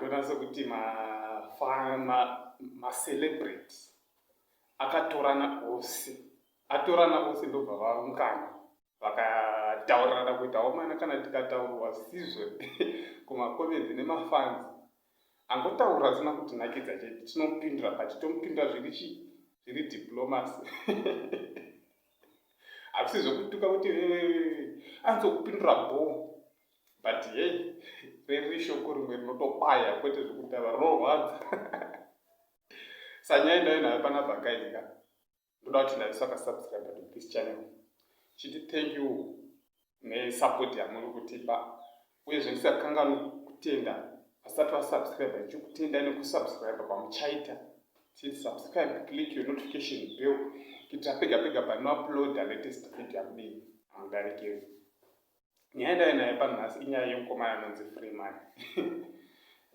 ndonase kuti macelebrity akatorana ose atorana ose ndobva vaungana vakataurirana kuita omana kana tikataurwa sizvo kumacomenzi nemafanzi angotaura zvisina kutinakidza chete tinopindura but tomupindura zviri chii zviri diplomacy hazvisi zvekutuka kuti anzokupindura bo but hei riri shoko rimwe rinotobaya kwete zvekutava rinorwadza sanyaya ndayo nayo pana vhakaika ndoda kuti naiso akasubscribe to this channel chiti thank you nesupport yamuri kutipa uyezve ndisakanganwi kutenda vasati vasubscribe ndichikutenda nekusubscribe kwamuchaita chiti subscribe click your notification bell kuitira pega pega panouploada latest video yamudei amudarikei nyaya ndave nayo panhasi inyaya yemukomana anonzi freeman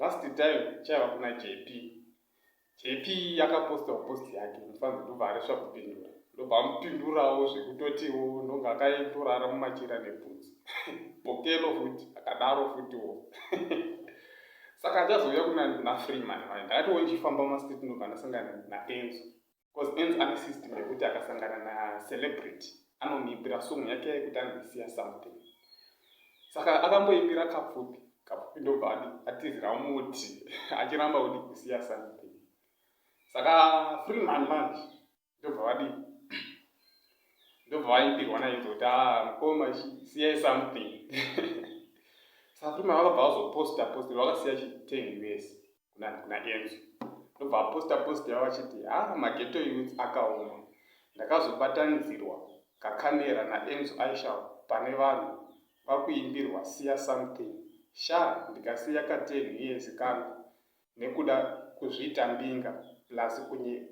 last time chaiva kuna jp jp yakapostawo post yake mufanzi ndobva aresva kupindura ndobva amupindurawo zvekutotiwo ndonge akatorara mumachira nebhutsu bokelo futi akadaro futiwo saka achazouya kuna freeman ndakatiwo ndichifamba mastreet ndobva ndasangana naenzo Cause Enzo ane system yekuti akasangana na celebrity anomuimbira song yake yekuti anosiya something. Saka akamboimbira kapfupi, kapfupi ndobva adi atizira muti achiramba kuti kusiya something. Saka free man manje ndobva vadi ndobva vaimbirwa na Enzo kuti ah mkoma siyai something. Saka free man vakabva vazoposta posta vakasiya chi 10 years. kuna kuna enzo ndobva aposta post yavo achiti ha ah, mageto youth akaoma ndakazobatanidzirwa kakamera naenzo aisha pane vanhu vakuimbirwa siya something sha ndikasiya kateni yezi kangu nekuda kuzviita mbinga plus kunye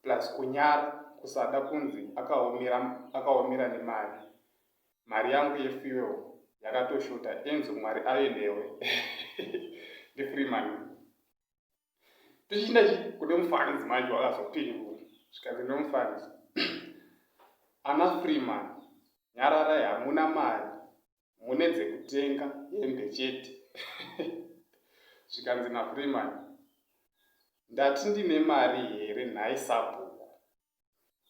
plus kunyara kusada kunzi akaomera akaomera nemari mari yangu ye fuel yakatoshota enzo mwari ave newe ndi freeman tichiinda kune mufanzi manje wakazopindura zvikanzi nomufanzi ana freeman nyararai hamuna mari mune dzekutenga hembe chete zvikanzi nafreeman ndati ndine mari here nhai sabhuku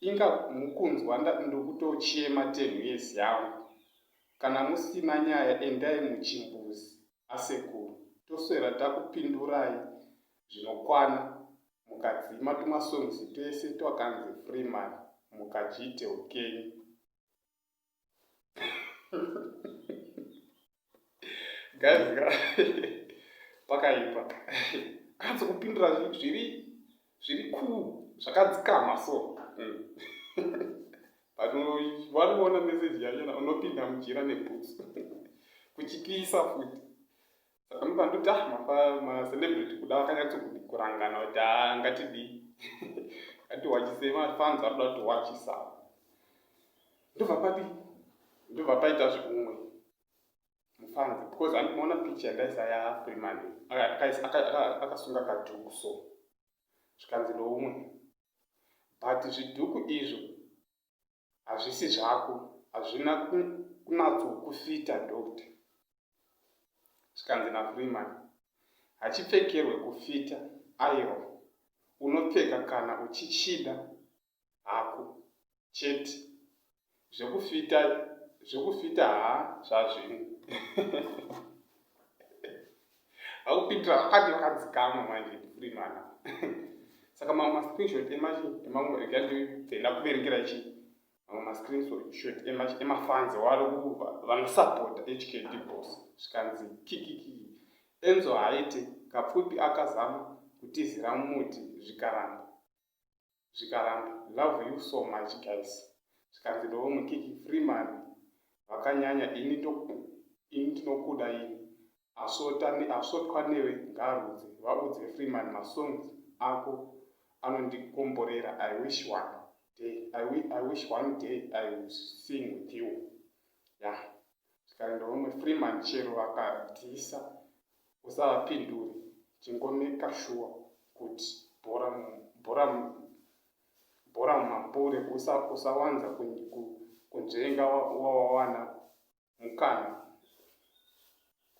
inga mukunzwa ndokutochema 10 years yangu kana musina nyaya endai muchimbuzi asekuru toswera takupindurai zvinokwana mukadzima tumasongs twese twakanzi freeman mukachiite hukenyu. guys pakaipa kanzi kupindura zviri zviri kuu zvakadzikama so hmm. but wariona message yanyana unopinda mujira nebhutsu kuchipisa futi saka nobva ndoti ah mafa macelebrity kuda vakanyatsokudi kurangana kuti a ah, ngatidii ngatiwachise mafans arikuda kuti wachisa ndobva pati ndobva paita zvekumwe mufans because andinoona picha yandaisa ya freeman akasunga kadhuku so zvikanzi noumwe but zvidhuku izvo hazvisi zvako hazvina kunatsokufita doctor zvikanzi nafreeman hachipfekerwe kufita airo unopfeka kana uchichida hako chete zvekufita zvekufita haa zvazvino vakupindira vakati vakadzikama manje ndifuri mwana saka mamwe mascreenshot emachi emamwe rega ndidenda kuverengera chi mamwe mascreenshot emachi emafanzi wari kuva vanosapota hkd bos zvikanzi kikiki enzo haiti kapfupi akazama kutizira muti zvikaramba zvikaramba love you so much guys zvikanzi ndoo mukiki free man vakanyanya ini ini ndinokuda ini asvota asvotwa newe ngaarudze vaudze free man masongs ako anondikomborera i wish one day i, I wish one day i will sing with you ya yeah. Zvikaenda umwe three month chero vakadzisa usavapindure chingomeka shuwa kuti bhora bhora bhora mumapure usawanza kunzvenga wawawana mukana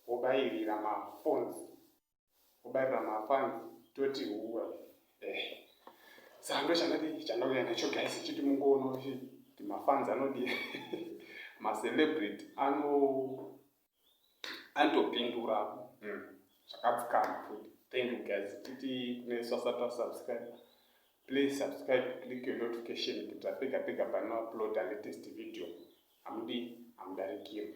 wobairira mafonzi kubarira mafans toti huwa eh sando chandadii chandauya nacho guys chiti mungoona kuti mafans anodii macelebrity ano anotopindura hmm. zvakadzikama futi thank you guys titi kune swasata subscribe please subscribe click your notification kuti apega pega panoupload a latest video amudi amudarikirwa